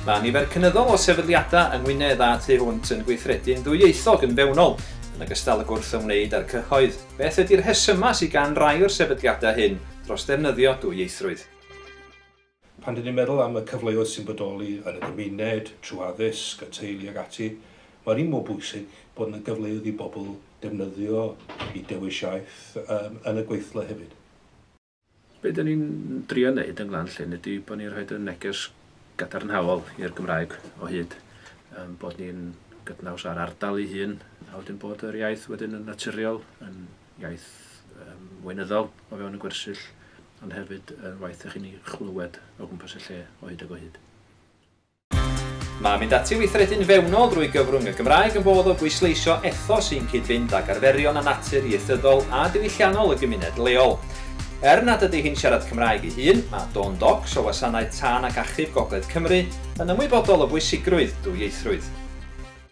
Mae nifer cynyddol o sefydliadau yng Ngwynedd a thu hwnt yn gweithredu'n ddwyieithog yn fewnol, yn ogystal ag wrth ymwneud â'r cyhoedd. Beth ydi'r rhesymau sydd gan rai o'r sefydliadau hyn dros ddefnyddio dwyieithrwydd? Pan ry'n ni'n meddwl am y cyfleoedd sy'n bodoli yn y gymuned, trwy addysg, y teulu ac ati, mae'r un mor bwysig bod yna gyfleoedd i bobl defnyddio i dewis iaith yn y gweithle hefyd. Be dan ni'n drio wneud yn Glan Llŷn ydy bod ni'n rhoi y neges gadarnhaol i'r Gymraeg o hyd, ein bod ni'n gydnaws â'r ardal ei hun, a wedyn bod yr iaith wedyn yn naturiol, yn iaith yym weinyddol o fewn y gwersyll ond hefyd yr waith dych chi'n ei chlywed o gwmpas y lle o hyd ag o hyd. Mae mynd ati i weithredu'n fewnol drwy gyfrwng y Gymraeg yn fodd o bwysleisio ethos sy'n cyd-fynd ag arferion a natur ieithyddol a diwylliannol y gymuned leol. Er nad ydy hi'n siarad Cymraeg ei hun, mae Dawn Docks o Wasanaeth Tân ac Achub Gogledd Cymru yn ymwybodol o bwysigrwydd dwyieithrwydd.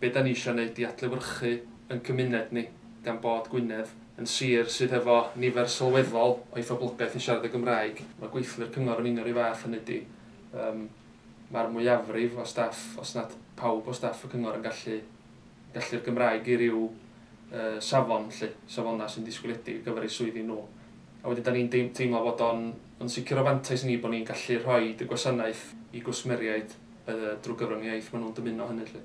be da ni isio wneud i adlewyrchu yn cymuned ni, gan bod Gwynedd yn sir sydd hefo nifer sylweddol o'i phoblogaeth yn siarad y Gymraeg, mae gweithlu'r cyngor yn union 'r un fath, hynny ydi, yym, mae'r mwyafrif o staff, os nad pawb o staff y cyngor yn gallu gallu'r Gymraeg i ryw yy safon 'lly, safonau sy'n disgwyliedig ar gyfer eu swyddi nhw. A wedyn da ni'n teimlo fod o'n yn sicr o fantais i ni bod ni'n gallu rhoid y gwasanaeth i gwsmeriaid drwy gyfrwng iaith maen nhw'n dymuno hynny 'lly.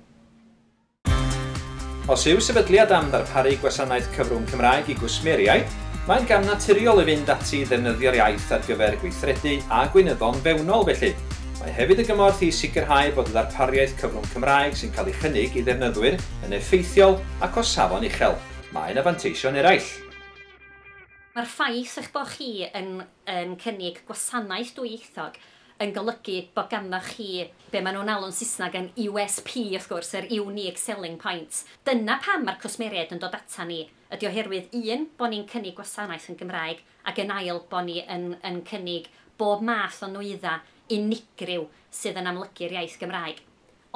Os yw sefydliad am ddarparu gwasanaeth cyfrwng Cymraeg i gwsmeriaid, mae'n gam naturiol i fynd ati i ddefnyddio'r iaith ar gyfer gweithredu a gweinyddon fewnol felly, mae hefyd y gymorth i sicrhau bod y ddarpariaeth cyfrwng Cymraeg sy'n cael ei chynnig i ddefnyddwyr yn effeithiol ac o safon uchel. Mae yna fanteision eraill. Mae'r ffaith eich bod chi yn yn cynnig gwasanaeth dwyieithog yn golygu bod ganddoch chi be maen nhw'n alw'n Saesneg yn USP wrth gwrs, yr Unique Selling Point. Dyna pam mae'r cwsmeriaid yn dod atan ni. Ydy oherwydd, un, bod ni'n cynnig gwasanaeth yn Gymraeg, ac yn ail, bod ni yn yn cynnig bob math o nwyddau unigryw sydd yn amlygu'r iaith Gymraeg.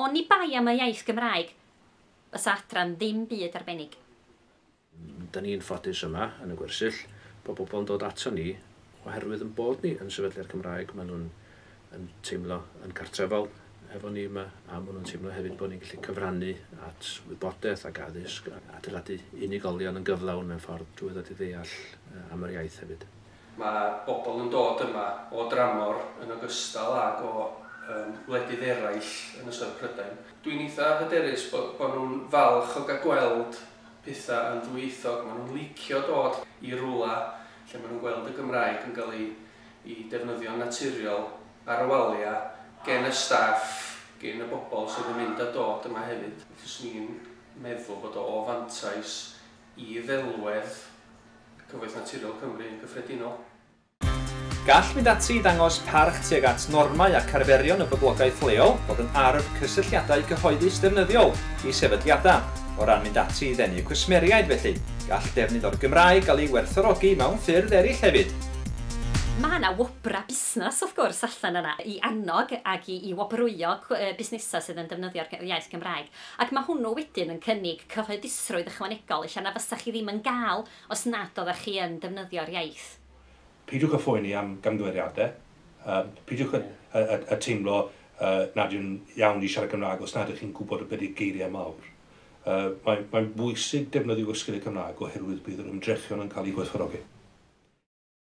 Oni bai am y iaith Gymraeg, fysa adran ddim byd arbennig. Dyn ni'n ffodus yma yn y gwersyll bod pobl yn dod aton ni oherwydd yn bod ni yn sefydliad Cymraeg maen nhw'n yn teimlo yn cartrefol efo ni yma a maen nhw'n teimlo hefyd bod ni'n gallu cyfrannu at wybodaeth ac addysg a adeiladu unigolion yn gyflawn mewn ffordd drwy ddod i ddeall am yr iaith hefyd. Mae pobl yn dod yma o dramor yn ogystal ag o wledydd eraill yn ystod Prydain. Dwi'n eitha hyderus bod nhw'n falch o gael gweld pethau yn ddwyieithog, maen nhw'n licio dod i rywle lle maen nhw'n gweld y Gymraeg yn cael ei defnyddio'n naturiol ar y waliau gen y staff, gen y bobl sydd yn mynd a dod yma hefyd. Fyswn i'n meddwl bod o o fantais i ddelwedd Cyfoeth Naturiol Cymru yn gyffredinol. Gall mynd ati i ddangos parch tuag at normau ac arferion y boblogaeth leol fod yn arf cysylltiadau cyhoeddus defnyddiol i sefydliadau, o ran mynd ati i ddenu cwsmeriaid felly, gall defnydd o'r Gymraeg gael ei werthfawrogi mewn ffyrdd eraill hefyd. Mae yna wobrau busnes wrth gwrs allan yna i annog ac i i wobrwyo busnesau sydd yn defnyddio'r iaith Gymraeg ac mae hwnnw wedyn yn cynnig cyhoeddusrwydd ychwanegol ella na fysa chi ddim yn gael Os nad oeddech chi yn defnyddio'r iaith. Peidiwch â phoeni am gamgymeriadau. Peidiwch â teimlo nad yw'n iawn i siarad Cymraeg os nad ydych chi'n gwybod y byddi geiriau mawr. Mae'n bwysig defnyddio Ysgol y Gymraeg oherwydd bydd yr ymdrechion yn cael eu gwerthfawrogi.